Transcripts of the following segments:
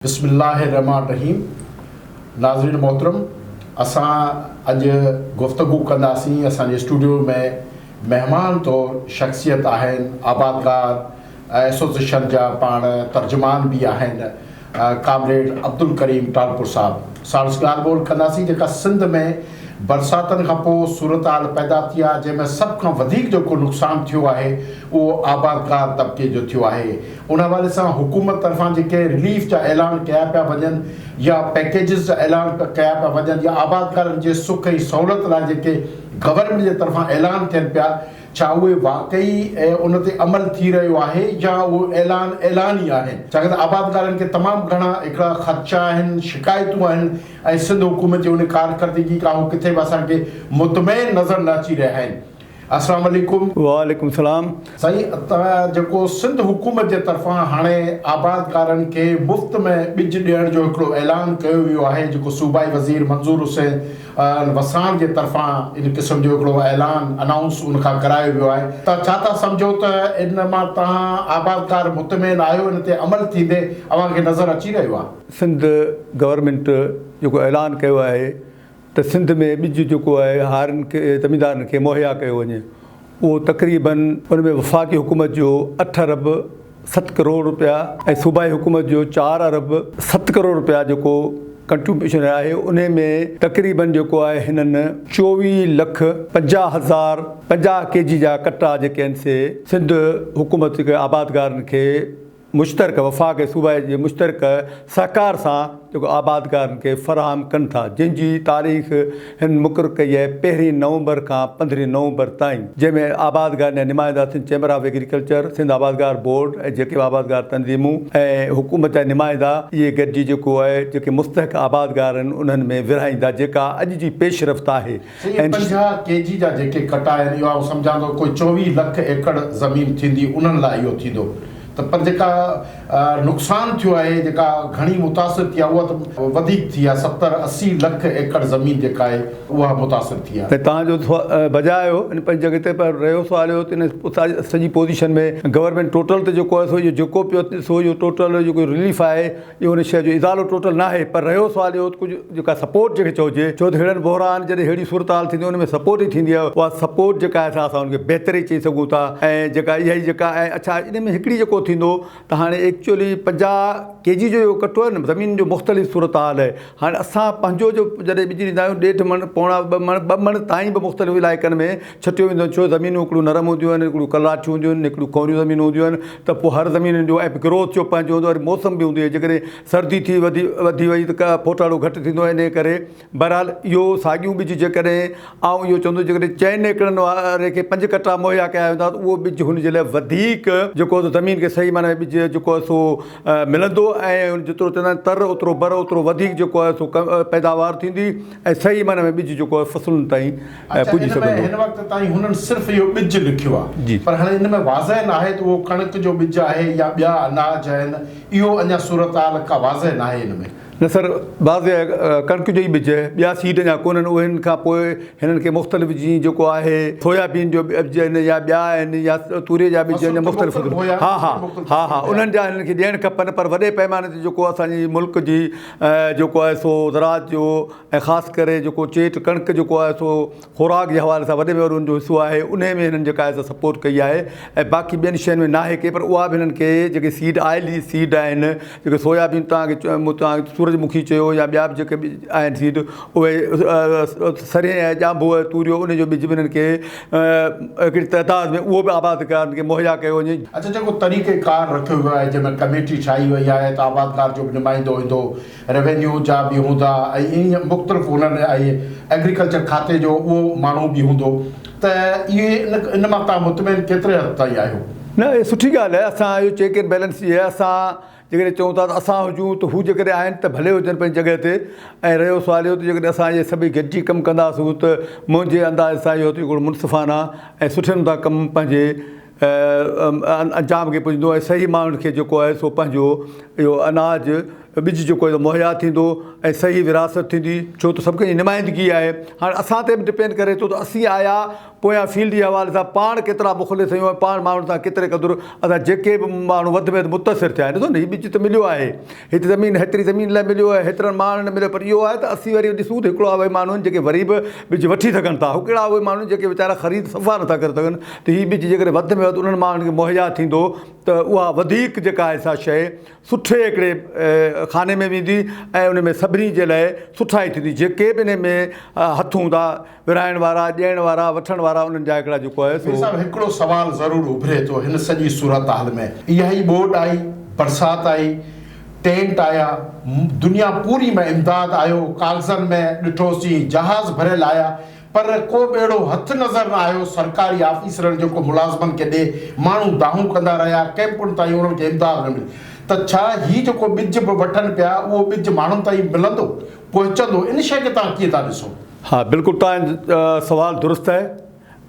بسم الله الرحمٰن الرحيم ناظرين محترم اسان اڄ گفتگو ڪنداسين اسان جي اسٽوڊيو ۾ مهمان طور شخصيت آهن آبادگار ايسوسيشن جا پاڻ ترجمان به آهن ڪامريڊ عبدالڪريم ٽالپر صاحب ساڻس ڳالهه ٻولهه ڪنداسين جيڪا سنڌ ۾ برساتن کان پوء صورتحال پيدا ٿي آهي جنهن ۾ سڀ کان وڌيڪ جيڪو نقصان ٿيو آهي اهو آبادگار طبقي جو ٿيو آهي ان حوالي سان حڪومت طرفان جيڪي رليف جا اعلان ڪيا پيا وڃن يا پيڪيجز جا اعلان ڪيا پيا وڃن يا آبادگارن جي سک ۽ سهولت لاء جيڪي گورنمينٽ جي طرفان اعلان ٿين پيا ڇا اهي واقعي ان تي عمل ٿي رهيو آهي يا اهي اعلان اعلان ئي آهن ڇاڪاڻ ته آبادگارن کي تمام گهڻا هڪڙا خدشا آهن شڪايتون آهن ۽ سنڌ حڪومت جي ان ڪارڪردگي کان هو ڪٿي به اسان کي مطمئن نظر نه اچي رهيا آهن. اسلام عليڪم. وعليڪم سلام. سائين اتان جيڪو سنڌ حڪومت جي طرفان هاڻي آبادگارن کي مفت ۾ ٻج ڏيڻ جو هڪڙو اعلان ڪيو ويو آهي جيڪو صوبائي وزير منظور حسين وساڻ جي طرفان ان قسم جو هڪڙو اعلان انائونس ان کان ڪرايو ويو آهي ته ڇا تهان سمجهو ته ان مان تهان آبادگار مطمئن آهيو ان تي عمل ٿيندي اوهان کي نظر اچي رهيو آهي. سنڌ گورنمينٽ جيڪو اعلان ڪيو آهي ته سنڌ ۾ ٻج جيڪو آهي هارين کي زميندارن کي مهيا ڪيو وڃي اهو تقريباً ان ۾ وفاقي حڪومت جو اٺ ارب ست ڪروڙ رپيا ۽ صوبائي حڪومت جو چار ارب ست ڪروڙ رپيا جيڪو ڪنٽريبيوشن آهي ان ۾ تقريباً جيڪو آهي هنن چوويهه لک پنجاهه هزار پنجاهه ڪي جي جا ڪٽا جيڪي آهن سي سنڌ حڪومت جيڪي آبادگارن کي مشترڪه وفاق ۽ صوبه جي مشترڪه سهڪار سان جيڪو آبادگارن کي فراهم ڪن ٿا جنهن جي تاريخ هن مقرر ڪئي آهي پهرين نومبر کان پندرهين نومبر تائين جنهن ۾ آبادگارن جا نمائندا Sindh chamber of agriculture, Sindh آبادگار بورڊ ۽ جيڪي به آبادگار تنظيمون ۽ حڪومت جا نمائندا اهي گڏجي جيڪو آهي جيڪي مستحق آبادگار آهن انهن ۾ ورهائيندا جيڪا اڄ جي پيش رفت آهي. سيء پنجاهه ڪي جي جا جيڪي ڪٽا آهن اهو آئون سمجهان ٿو ڪوئي چوويهه لک ايڪڙ زمين ٿيندي انهن لاء اهو ٿيندو ته پر جيڪا نقصان ٿيو آهي جيڪا گهڻي متاثر ٿي آهي اها ته وڌيڪ ٿي آهي ستر اسي لک ايڪڙ زمين جيڪا آهي اها متاثر ٿي آهي. هتان جو بجاء اهو ان پنهنجي جڳهه تي پر رهيو سوال اهو ته ان اتان جي سڄي پوزيشن ۾ گورنمينٽ ٽوٽل ته جيڪو آهي سو اهو جيڪو پيو سو اهو ٽوٽل جيڪو رليف آهي جو ان شيء جو ازالو ٽوٽل ناهي پر رهيو سوال اهو ته ڪجهه جيڪا سپورٽ جنهن کي چئجي ڇو ته ههڙن بحران جڏهن ههڙي صورتحال ٿيندي ان ۾ سپورٽ ئي ٿيندي آهي اها سپورٽ جيڪا آهي سا اسان ان کي بهتر ئي چئي سگهون ٿا ۽ جيڪا اها ئي جيڪا ۽ اڇا ان ۾ هڪڙي جيڪو ٿيندو ته هاڻي ايڪچولي پنجاهه ڪي جي جو اهو ڪٽو آهي نه زمين جو مختلف صورتحال آهي هاڻي اسان پنهنجو جو جڏهن ٻج ڏيندا آهيون ڏيڍ مڻ پوڻا ٻه مڻ ٻه مڻ تائين به مختلف علائقن ۾ ڇتيون وينديون آهن ڇو زمينون هڪڙيون نرم هونديون آهن هڪڙيون ڪلراٺيون هونديون آهن هڪڙيون ڪؤريون زمينون هونديون آهن ته پوء هر زمين جو ايپ گروٿ جو پنهنجو هوندو آهي وري موسم به هوندو آهي جيڪڏهن سردي ٿي وڌي وڌي وئي ته پوٽاڙو گهٽ ٿيندو آهي انهي ڪري بهرحال اهو ساڳيون ٻج جيڪڏهن آئون اهو چوندس جيڪڏهن چئن ايڪڙن واري کي پنج ڪٽا مهيا ڪيا ويندا ته اهو ٻج هن جي لاء وڌيڪ جيڪو هوندو زمين کي صحيح معنيٰ ۾ ٻج جيڪو آهي سو ملندو ۽ جيترو چوندا آهن تر اوترو بر اوترو وڌيڪ جيڪو آهي سو پيداوار ٿيندي ۽ صحيح معنيٰ ۾ ٻج جيڪو آهي فصلن تائين ۽ پڄي سگهندو. اچا ان ۾ هن وقت تائين هنن صرف اهو ٻج لکيو آ پر هاڻي ان ۾ واضح ناهي ته اهو ڪڻڪ جو ٻج آهي يا ٻيا اناج آهن اهو اڃا صورتحال ڪا واضح ناهي ان ۾. نه سر واضح ڪڻڪ جو ئي ٻج ٻيا سيڊ اڃا ڪونهن اهن کان پوء هنن کي مختلف جيئن جيڪو آهي سويا بين جو ٻج آهن يا ٻيا آهن يا توري جا ٻج آهن مختلف ها ها ها ها انهن جا هنن کي ڏيڻ کپن پر وڏي پئماني تي جيڪو اسان جي ملڪ جي جيڪو آهي سو زراعت جو ۽ خاص ڪري جيڪو چيٽ ڪڻڪ جيڪو آهي سو خوراڪ جي حوالي سان وڏي ۾ وڏو ان جو حصو آهي انهي ۾ هنن جيڪا آهي سا سپورٽ ڪئي آهي ۽ باقي ٻين شين ۾ ناهي ڪئي پر اها به هنن کي جيڪي سيڊ آئلي سيڊ آهن جيڪي سويابين توهان کي چيو توهان سورج مکي چيو يا ٻيا به جيڪي به آهن سيڊ اهي سرهي ۽ ڄانڀو ۽ توريو ان جو ٻج به هنن کي هڪڙي تعداد ۾ اهو به آبادگارن کي مهيا ڪيو وڃي. اچ جيڪو طريقه ڪار رکيو ويو آهي جنهن ۾ ڪميٽي ٺاهي وئي آهي ته آبادگار جو به نمائندو ايندو روينيو جا به هوندا ۽ ائين مختلف هنر آهي ايگريڪلچر کاتي جو اهو ماڻهو به هوندو ته اهي ان مان تهان مطمئن ڪيتري حد تائين آهيو؟ نه اهي سٺي ڳالهه آهي اسان اهو چيڪ اينڊ بيلنس جي اسان جيڪڏهن چئون ٿا ته اسان هجون ته هو جيڪڏهن آهن ته ڀلي هجن پنهنجي جڳهه تي ۽ رهيو سوال اهو ته جيڪڏهن اسان اهي سڀئي گڏجي ڪم ڪنداسون ته منهنجي انداز سان اهو ٿيندو منصفانه ۽ سٺي نموني سان ڪم پنهنجي انجام کي پڄندو ۽ صحيح ماڻهن کي جيڪو آهي سو پنهنجو اهو اناج ٻج جيڪو آهي سو مهيا ٿيندو ۽ صحيح وراثت ٿيندي ڇو ته سڀ ڪجهه نمائندگي آهي هاڻي اسان تي به ڊپينڊ ڪري ٿو ته اسين آيا پويان فيلڊ جي حوالي سان پاڻ ڪيترا مخلص آهيون ۽ پاڻ ماڻهن سان ڪيتري قدر اسان جيڪي به ماڻهو وڌ ۾ وڌ متاثر ٿيا آهن ڏسو نه هي ٻج ته مليو آهي هيتري زمين هيتري زمين لاء مليو آهي هيترن ماڻهن لاء مليو پر اهو آهي ته اسين وري ڏسون ته هڪڙا اهي ماڻهو آهن جيڪي وري به ٻج وٺي سگهن ٿا هڪڙا اهي ماڻهو آهن جيڪي ويچارا خريد صفا نٿا ڪري سگهن ته هي ٻج جيڪڏهن وڌ ۾ وڌ انهن ماڻهن کي مهيا ٿيندو ته اها وڌيڪ جيڪا آهي سا شيء سٺي هڪڙي خاني ۾ ويندي ۽ ان ۾ سڀني جي لاء سٺائي ٿيندي جيڪي به ان ۾ هٿ هوندا ورهائڻ وارا، ڏيڻ وارا، وٺڻ وارا انهن جا هڪڙا جڪو آهي سو. مير صاحب هڪڙو سوال ضرور اڀري ٿو هن سڄي صورتحال ۾ اها ئي ٻوڏ آئي، برسات آئي، ٽينٽ آيا، دنيا پوري ۾ امداد آيو، ڪاغذن ۾ ڏٺوسين جهاز ڀريل آيا پر ڪو ٻيڙو هٿ نظر نه آيو، سرڪاري آفيسرن جيڪو ملازمن کي ڏي ماڻهو دانهون ڪندا رهيا، ڪئمپن تائين انهن کي امداد نه ملي ته ڇا هي جيڪو ٻج به وٺن پيا اهو ٻج ماڻهن تائين ملندو؟ پوء چندو، ان شيء کي توهان ڪيئن ٿا ڏسو؟ ها، بلڪل توهان جو سوال درست آهي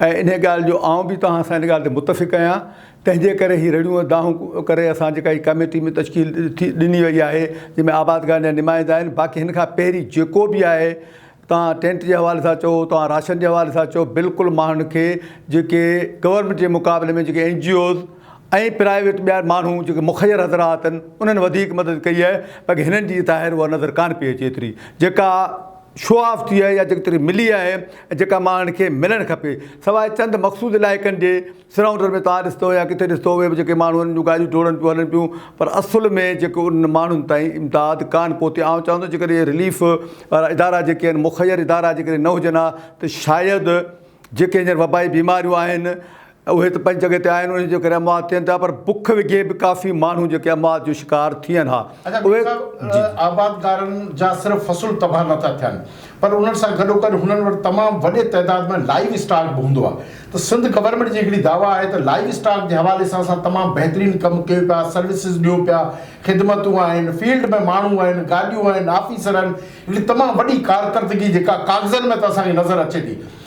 ۽ انهيء ڳالهه جو آئون به توهان سان ان ڳالهه تي متفق آهيان. تنهن جي ڪري هي رڙيون ۽ دانهون ڪري اسان جيڪا هي ڪاميٽي ۾ تشڪيل ڏني وئي آهي، جنهن ۾ آبادگارن جا نمائندا آهن، باقي هن کان پهرين جيڪو به آهي، توهان ٽينٽ جي حوالي سان چئو، توهان راشن جي حوالي سان چئو، بلڪل ماڻهن کي جيڪي گورنمينٽ جي مقابلي ۾ جيڪي اين جي اوز ۽ پرائيويٽ ٻيا ماڻهو جيڪي مخير حضرات آهن انهن وڌيڪ مدد ڪئي آهي باقي هنن جي ظاهر اها نظر ڪانه پئي اچي ايتري جيڪا شو آف ٿي آهي يا جيتري ملي آهي ۽ جيڪا ماڻهن کي ملڻ کپي سواء چند مخصوص علائقن جي سرائونڊر ۾ توهان ڏسندو يا ڪٿي ڏسندو اهي به جيڪي ماڻهو انهن جون گاڏيون ڊوڙن پيون هلن پيون پر اصل ۾ جيڪو انهن ماڻهن تائين امداد ڪانه پهتي آئون چاهندو جيڪڏهن اهي رليف وارا ادارا جيڪي آهن مخير ادارا جيڪڏهن نه هجن ها ته شايد جيڪي هينئر وبائي بيماريون آهن اهي ته پنهنجي جڳهه تي آهن انهن جي ڪري اموات ٿين ٿا پر بک وگهي به ڪافي ماڻهو جيڪي اموات جو شڪار ٿين ها اهي جي. آبادگارن جا صرف فصل تباهه نه ٿا ٿين پر انهن سان گڏوگڏ هنن وٽ تمام وڏي تعداد ۾ لائيو اسٽاڪ به هوندو آهي ته سنڌ گورنمينٽ جي هڪڙي دعويٰ آهي ته لائيو اسٽاڪ جي حوالي سان اسان تمام بهترين ڪم ڪيو پيا سروسز ڏيون پيا خدمتون آهن فيلڊ ۾ ماڻهو آهن گاڏيون آهن آفيسر آهن هڪڙي تمام وڏي ڪارڪردگي جيڪا ڪاغذن ۾ ته اسان کي نظر اچي ٿي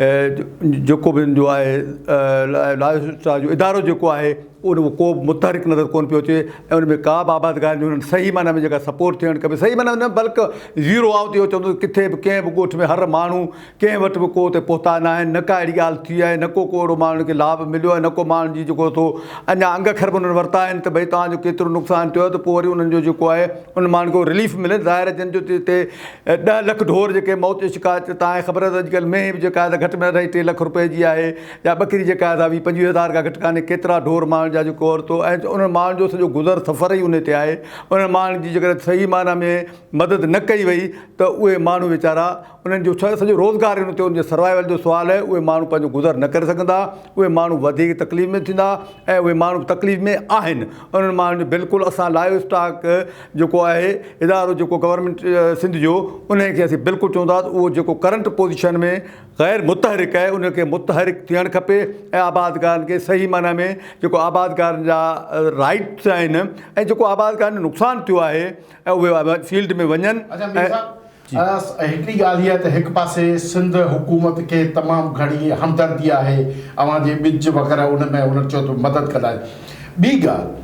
جيڪو به ان جو آهي لاء جو ادارو جيڪو آهي ان ۾ ڪو متحرڪ نظر ڪون پيو اچي ۽ ان ۾ ڪا به آبادگار جو انهن صحيح معنيٰ ۾ جيڪا سپورٽ ٿيڻ کپي صحيح معنيٰ نه بلڪه زيرو آئون ٿي اچو ڪٿي به ڪنهن به ڳوٺ ۾ هر ماڻهو ڪنهن وٽ به ڪو ته پهتا نه آهن نه ڪا اهڙي ڳالهه ٿي آهي نه ڪو اهڙو ماڻهو کي لاڀ مليو آهي نه ڪو ماڻهو جي جيڪو ٿو اڃا انگ اکر به انهن ورتا آهن ته ڀئي تهان جو ڪيترو نقصان ٿيو ته پوء وري انهن جو جيڪو آهي ان ماڻهن کي رليف ملي ظاهر جن جو تي ڏهه لک ڍور جيڪي موت جو شڪار ٿيو تان خبر آهي ته اڄڪلهه مينهن به جيڪا آهي سا گهٽ ۾ گهٽ اڍائي ٽي لک روپين جي آهي يا ٻڪري جيڪا آهي سا ويهه پنجويهه هزار کان گهٽ ڪانهي ڪيترا ڍور ماڻهن جا جيڪو عورتون ۽ انهن ماڻهن جو سڄو گذر سفر ئي انهي تي آهي انهن ماڻهن جي جيڪڏهن صحيح معنيٰ ۾ مدد نه ڪئي وئي ته اهي ماڻهو ويچارا انهن جو ڇا سڄو روزگار انهي تي انهن جي سروائيول جو سوال آهي اهي ماڻهو پنهنجو گذر نه ڪري سگهندا اهي ماڻهو وڌيڪ تڪليف ۾ ٿيندا ۽ اهي ماڻهو تڪليف ۾ آهن انهن ماڻهن جو بلڪل اسان لائيو اسٽاڪ جيڪو آهي ادارو جيڪو گورنمينٽ سنڌ جو انهي کي اسين بلڪل چونداس اهو جيڪو ڪرنٽ پوزيشن ۾ غير متحرڪ آهي ان کي متحرڪ ٿيڻ کپي ۽ آبادگارن کي صحيح معنيٰ ۾ جيڪو آبادگارن جا رائيٽس آهن ۽ جيڪو آبادگارن جو نقصان ٿيو آهي اهي فيلڊ ۾ وڃن ۽ جي. هڪڙي ڳالهه هيء ته هڪ پاسي سنڌ حڪومت کي تمام گهڻي همدردي آهي اوهان جي ٻج وغيره ان ۾ هنن چيو ته مدد ڪندا آهن ٻي ڳالهه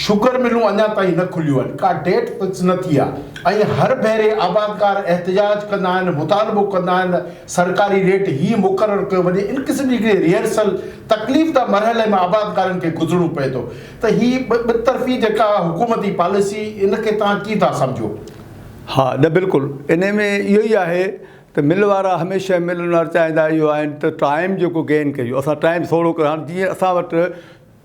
شگر ملون اڃا تائين نه کليون آهن ڪا ڊيٽ فڪس نه ٿي آهي ۽ هر ڀيري آبادگار احتجاج ڪندا آهن مطالبو ڪندا آهن سرڪاري ريٽ هي مقرر ڪيو وڃي ان قسم جي هڪڙي ريهرسل تڪليف ده مرحلي مان آبادگارن کي گذرڻو پئي ٿو ته هي ٻه طرفي جيڪا حڪومتي پاليسي ان کي توهان ڪيئن ٿا سمجهو. ها نه بلڪل انهي ۾ اهو ئي آهي ته مل وارا هميشه مل اونر چاهيندا اهو آهن ته ٽائيم جيڪو گين ڪيو اسان ٽائيم سوڙهو ڪيو هاڻ جيئن اسان وٽ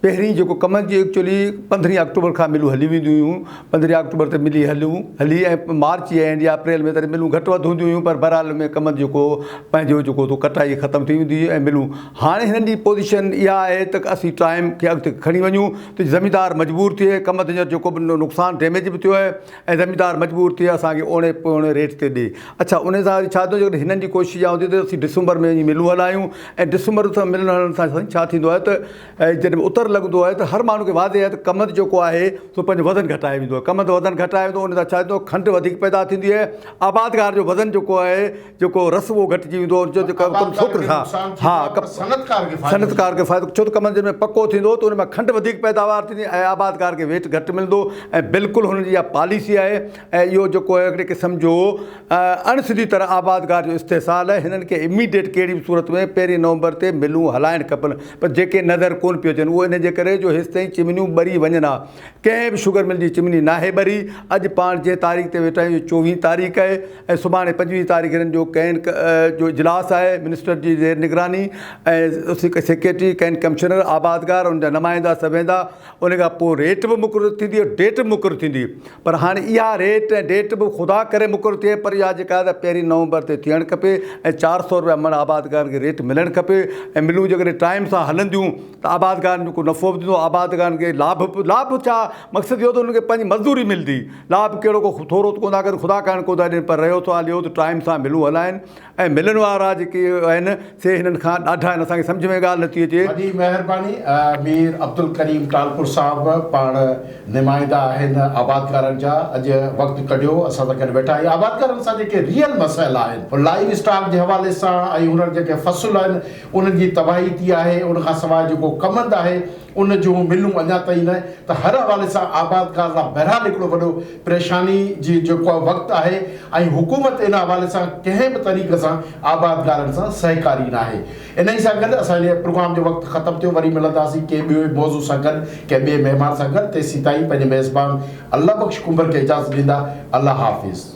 پهرين جيڪو ڪمن جي ايڪچولي پندرهين آڪٽوبر کان ملون هليون وينديون هيون پندرهين آڪٽوبر تي ملي هليون هلي ۽ مارچ جي اينڊ يا اپريل ۾ تڏهن ملون گهٽ وڌ هونديون هيون پر بهرحال ۾ ڪمن جيڪو پنهنجو جيڪو تو ڪٽائي ختم ٿي ويندي هئي ۽ ملون هاڻي هنن جي پوزيشن اها آهي ته اسين ٽائيم کي اڳتي کڻي وڃون ته زميندار مجبور ٿئي ڪم تي جيڪو به نقصان ڊيميج به ٿيو آهي ۽ زميندار مجبور ٿئي اسان کي اوڻي پوڻي ريٽ تي ڏي. اڇا انهي سان وري ڇا ٿيندو جيڪڏهن هنن جي ڪوشش اها هوندي ته اسين ڊسمبر ۾ وڃي ملون هلايون ۽ ڊسمبر سان ملن هلڻ سان سائين ڇا ٿيندو آهي ته جڏهن اتر لڳندو آهي ته هر ماڻهو کي واضح آهي ته ڪمند جيڪو آهي سو پنهنجو وزن گهٽائي ويندو آهي ڪمند وزن گهٽائي ويندو انهي سان ڇا ٿيندو کنڊ وڌيڪ پيدا ٿيندي آهي آبادگار جو وزن جيڪو آهي جيڪو رسوو گهٽجي ويندو هو جو ڪم ڇوڪري سان ها ڪم صنعتڪار کي صنعتڪار کي فائدو ڇو ته ڪم جن ۾ پڪو ٿيندو ته ان ۾ کنڊ وڌيڪ پيداوار ٿيندي ۽ آبادگار کي ويٽ گهٽ ملندو ۽ بلڪل هن جي اها پاليسي آهي ۽ اهو جيڪو آهي هڪڙي قسم جو اڻ سڌي طرح آبادگار جو استحصال آهي هنن کي اميڊيٽ ڪهڙي به صورت ۾ پهرين نومبر تي ملون هلائڻ کپن پر جيڪي نظر ڪون پيون اچن اهو ان جي ڪري جو هيستائين چمنيون ٻري وڃن ها ڪنهن به شگر مل جي چمني ناهي ٻري، اڄ پاڻ جنهن تاريخ تي ويٺا آهيون اهي چوويهين تاريخ آهي ۽ سڀاڻي پنجويهه تاريخ هنن جو ڪئين ڪ جو اجلاس آهي منسٽر جي زير نگراني ۽ سيڪريٽري ڪئين ڪمشنر آبادگار ان جا نمائندا سڀ ويندا ان کان پوء ريٽ به مقرر ٿيندي ۽ ڊيٽ به مقرر ٿيندي پر هاڻي اها ريٽ ۽ ڊيٽ به خدا ڪري مقرر ٿئي پر اها جيڪا آهي پهرين نومبر تي ٿيڻ کپي ۽ چار سئو رپيا مڻ آبادگارن کي ريٽ ملڻ کپي ۽ ملون جيڪڏهن ٽائيم سان هلنديون ته آبادگارن جو ڪو نفعو به ٿيندو، آبادگارن کي لاڀ به، لاڀ ڇا مقصد اهو ته انهن کي پنهنجي مزدوري ملندي، لاڀ ڪهڙو ڪو ٿورو ته ڪونه ٿا ڪن، خدا ڪرڻ ڪونه ٿا ڏين پر رهيو سوال اهو ته ٽائيم سان ملون هلائن ۽ ملن وارا جيڪي آهن سي هنن کان ڏاڍا آهن اسان کي سمجهه ۾ ڳالهه نٿي اچي. وڏي مهرباني مير عبدالڪريم ٽالپر صاحب پاڻ نمائندا آهن آبادگارن جا اڄ وقت ڪڍيو اسان سان گڏ ويٺا ۽ آبادگارن سان جيڪي ريئل مسئل آهن لائيو اسٽاڪ جي حوالي سان ۽ هنر جيڪي فصل آهن ان جي تباهي ٿي آهي، ان کان سواء جيڪو ڪمند آهي، ان جون ملون اڃا تائين نه ته هر حوالي سان آبادگار لاء بهرحال هڪڙو وڏو پريشاني جي جيڪو وقت آهي ۽ حڪومت ان حوالي سان ڪنهن به طريقي سان آبادگارن سان سهڪاري ناهي. انهي سان گڏ اسان جي پروگرام جو وقت ختم ٿيو، وري ملنداسين ڪنهن ٻئي موضوع سان گڏ ڪنهن ٻئي مهمان سان گڏ، تيسين تائين پنهنجي ميزبان الله بخش ڪنڀر کي اجازت ڏيندا، الله حافظ.